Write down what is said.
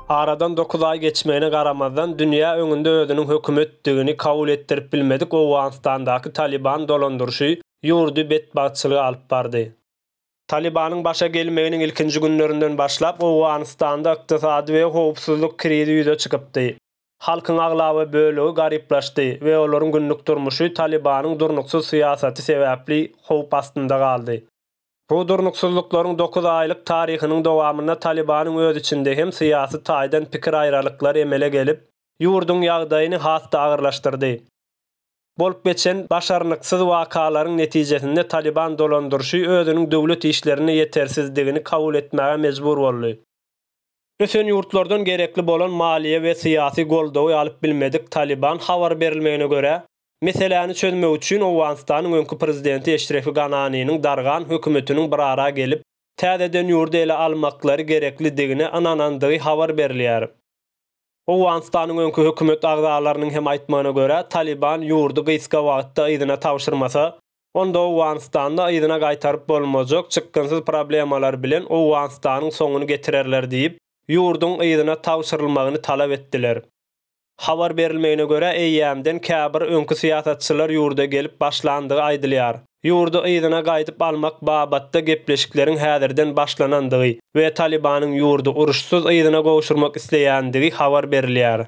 Aradan dokuz aý geçmegine garamazdan, dünýä öňünde özüniň hökümetdigini kabul etdirip bilmedik Owganystandaky Talyban dolandyryşy ýurdy betbagtçylyga alyp bardy. Talybanyň başa gelmeginiň ilkinji günlerinden başlap, Owganystanda ykdysady we howpsuzlyk krizi ýüze çykypdy. Halkyň aglaba bölegi garyplaşdy we olaryň günlük durmuşy Talybanyň durnuksyz syýasaty sebäpli howp astynda galdy. Bu durnuksyzlyklaryň dokuz aýlyk taryhynyň dowamynda Talybanyň öz içinde hem syýasy taýdan pikir aýralyklary emele gelip, ýurduň ýagdaýyny has-da agyrlaşdyrdy. Bolup geçen başarnyksyz wakalaryň netijesinde Talyban dolandyryşy özüniň döwlet işlerinde ýetersizdigini kabul etmäge mejbur boldy. Ösen ýurtlardan gerekli bolan maliýe we syýasy goldawy alyp bilmedik Talyban habar berilmegine görä, Meseläni çözmek üçin Owganystanyň öňki prezidenti Eşrefi Gananiniň dargan hökümetiniň bir ara gelip, täzeden ýurdy ele almaklary gereklidigine ynanandygy habar berilýär. Owganystanyň öňki hökümet agzalarynyň hem aýtmagyna görä, Talyban ýurdy gysga wagtda yzyna tabşyrmasa, onda Owganystanda yzyna gaýtaryp bolmajak çykgynsyz problemalar bilen Owganystanyň soňuny getirerler diýip, ýurduň yzyna tabşyrylmagyny talap etdiler. Habar berilmegine görä, eýýämden käbir öňki syýasatçylar ýurda gelip başlandygy aýdylýar. Ýurdy yzyna gaýdyp almak babatda gepleşikleriň häzirden başlanandygy we Talybanyň ýurdy uruşsyz yzyna gowşurmak isleýändigi habar berilýär.